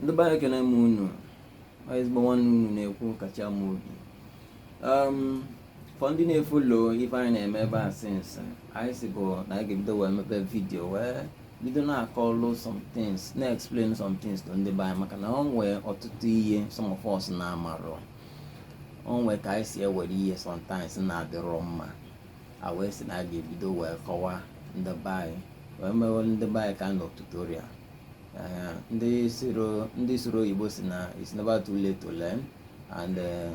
ndị be anyị ekene m unu ezigbo nwanne unu na-ekwu Kachi Amobi um, for ndị na-efollow ife anyị na-eme ebe a since anyị sị bụ na anyị ga-ebido wee mebe video wee bido na-akọlụ some things na-explain some things to ndị be anyị maka na o nwee ọtụtụ ihe some of us na-amarọ o nwee ka anyị si ewere ihe sometimes na-adịrọ mma a wee sị na a ga-ebido wee kọwaa ndị be anyị wee mewe ndị be anyị kind of tutorial eh, ndị sụrụ ndị sụrụ oyibo sị na it's never too late to learn and eh,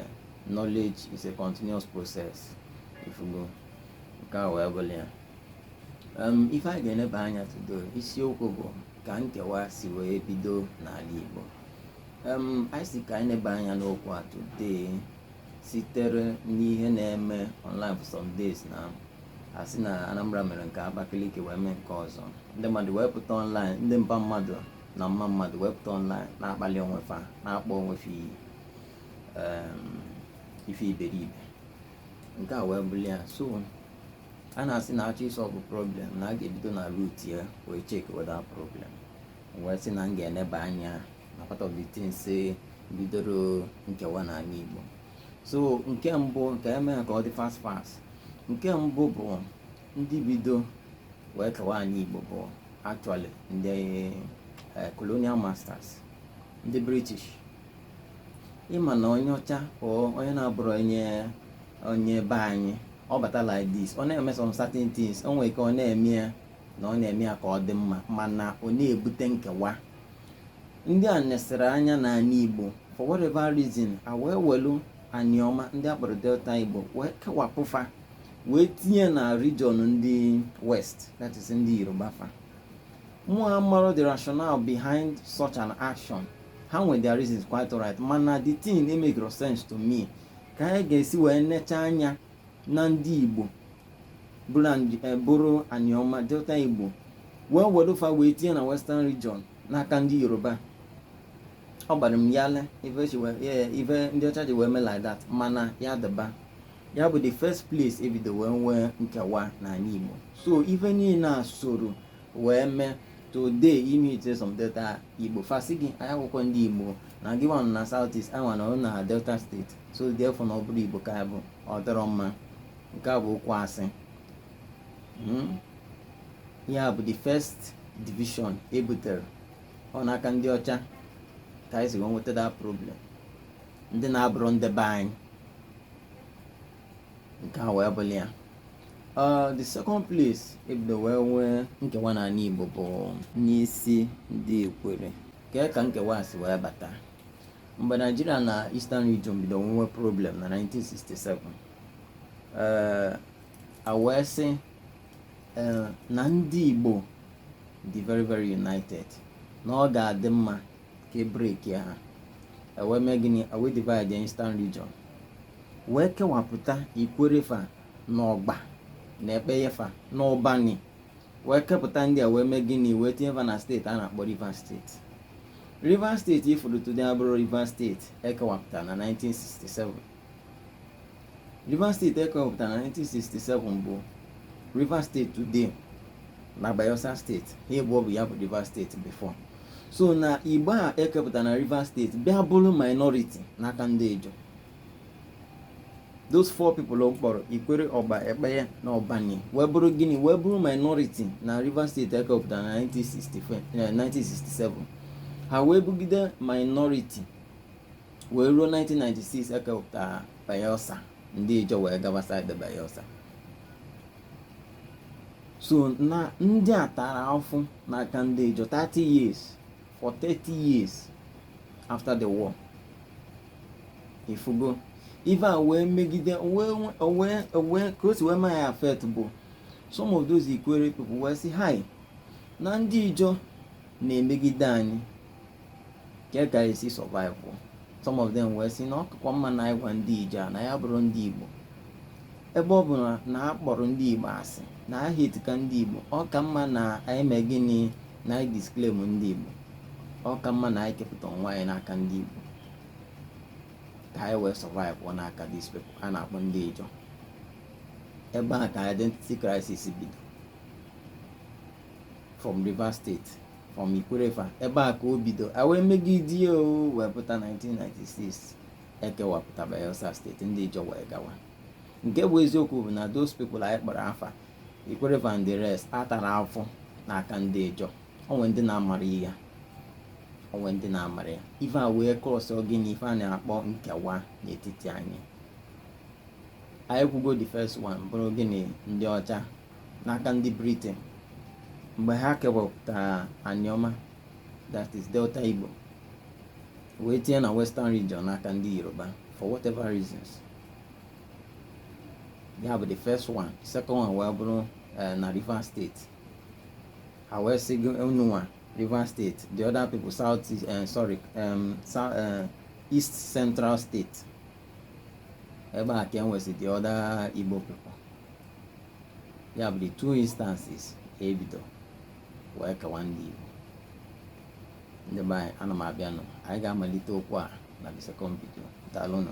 knowledge is a continuous process ị fụgo nke a wee bụlụ ya ife anyị ga-eneba anya today isiokwu bụ ka nkewa si wee bido n'ala Igbo anyị sị ka anyị neba anya n'okwu a today sitere n'ihe na-eme online for some days na a sị na Anambra mere nke a Abakaliki wee mee nke ọzọ ndị mmadụ wee pụta online ndị mpa mmadụ na mma mmadụ wee pụta online na-akpali onwe fa na-akpọ onwe fa iyi ife iberibe nke a wee bụrụ ya so a na-asị na a chọọ ịsolve problem na a ga-ebido na root ya wee check where the problem wee sị na m ga-eneba anya na part of the things bidoro nkewa n'ala Igbo so nke mbụ ka m mee ya ka ọ dị fast fast nke mbụ bụ ndị bido wee kewa anị Igbo bụ actually ndị eh, colonial masters ndị British ị ma na onye ọcha onye na-abụrọ onye onye be anyị ọ bata like this ọ na-eme some certain things o nwere ike ọ na-eme ya na ọ na-eme ya ka ọ dị mma mana ọ na-ebute nkewa ndị a nesịrị anya n'ala Igbo for whatever reason a wee welu Anioma ndị a kpọrọ Delta Igbo wee kewapụ fa wee tinye na region ndị west that is ndị Yoruba fa mụ amarọ the rationale behind such an action ha nwere their reasons quite alright mana the thing makerọ sense to me ka anyị ga-esi wee necha anya na ndị Igbo buru An- eh, buru Anioma Delta Igbo wee wedo fa wee tinye na Western Region n'aka ndị Yoruba ọ gbara m ghalịị ife chi wee- eh, ife ndị ọcha ji wee mee like that mana ya dịba ya bụ the first place e bido wee nwee nkewa n'ala Igbo so ife niile a soro wee mee today ị meetie some Delta Igbo fa asị gị anyị abụrọkwa ndị Igbo na gị nwa nọ na south east anyị nwa nọ na Delta State so ị ga-afụ na ọ bụrọ igbo ka bụ ọ dịrọ mma nke a bụ okwu asị hmm? ya bụ the first division ebutere ọ n'aka ndị ọcha ka anyị si wee nweta that problem ndị na-abụrọ ndị be anyị nke a wee bụrụ ya uh, the second place ebido wee nwee nkewa n'anị Igbo bụ n'isi ndị Ikwere kee ka nkewa si wee bata mgbe naijiria na eastern region bido nwewe problem na 1967 eh, a wee sị eh, na ndị igbo dị very very united na ọ ga-adị mma ka e breakie ha e wee mee gịnị e wee divide eastern region wee kewapụta ikwere fa na ọgba na ekpeye fa na ụbani wee kepụta ndị a wee mee gịnị wee tinye va na steeti a na-akpọ Rivers steeti Rivers steeti ị fụrụ today abụrọ Rivers steeti ekewapụta na 1967 Rivers steeti ekewapụta na 1967 bụ Rivers steeti today na Bayelsa steeti ha ịbụọ bụ ya bụ Rivers steeti before so na igbo a e kepụta na Rivers steeti bịa bụrụ minority n'aka ndị Ijaw those four people m kpọrọ ikwere ọgba ekpeye na ụbani wee bụrụ gịnị wee bụrụ minority na rivers steeti ekewapụta na 1967 ha wee bụgide minority wee ruo 1996 ekewapụta bayelsa ndị Ijaw wee gaba side bayelsa so na ndị a tara afụ n'aka ndị Ijaw 30 years for 30 years after the war ị fụgo ife a wee megide wee ka o si wee mee ya affect bụ some of those Ikwere people wee sị hai na ndị Ijaw na-emegide anyị kee ka e si survive some of them wee sị na ọ kakwa mma na anyị gwa ndị Ijaw na anyị abụrọ ndị Igbo ebe ọ bụ na a kpọrọ ndị Igbo asị na a hateka ndị Igbo ọ ka mma na anyị mee gịnị na anyị disclaim ndị Igbo ọ ka mma na anyị kepụta onwe anyị n'aka ndị Igbo ka anyị wee survive ọ n'aka these people a na-akpọ ndị Ijaw ebe a ka identity crisis bido from Rivers State from Ikwere fa ebe a ka o bido a wee megide ya o wee pụta 1996 ekewapụta Bayelsa steeti ndị Ijaw wee gawa nke bụ eziokwu bụ na those people anyị kpọrọ afa ikwerre and the rest atara afụfụ n'aka ndị ijọ o nwe ndị na-amara ya o nwe ndị na-amara ya ife a wee kọsọ gịnị ife a na-akpọ nkewa n'etiti anyị anyị kwugo the first one bụrụ gịnị ndị ọcha n'aka ndị britain mgbe ha kewapụtara anioma that is delta igbo wee tinye na western region n'aka ndị yoruba for whatever reasons ya bụ the first one second one wee bụrụ eh, na Rivers state ha wee sị unu nwa Rivers state the other people south uh, sorry um, south, uh, east central state ebe a ka e nwesị the other Igbo people ya bụ the two instances e bido wee kewa ndị Igbo ndị be anyị ana m abịanụ anyị ga-amalite okwu a na the second video daalụnụ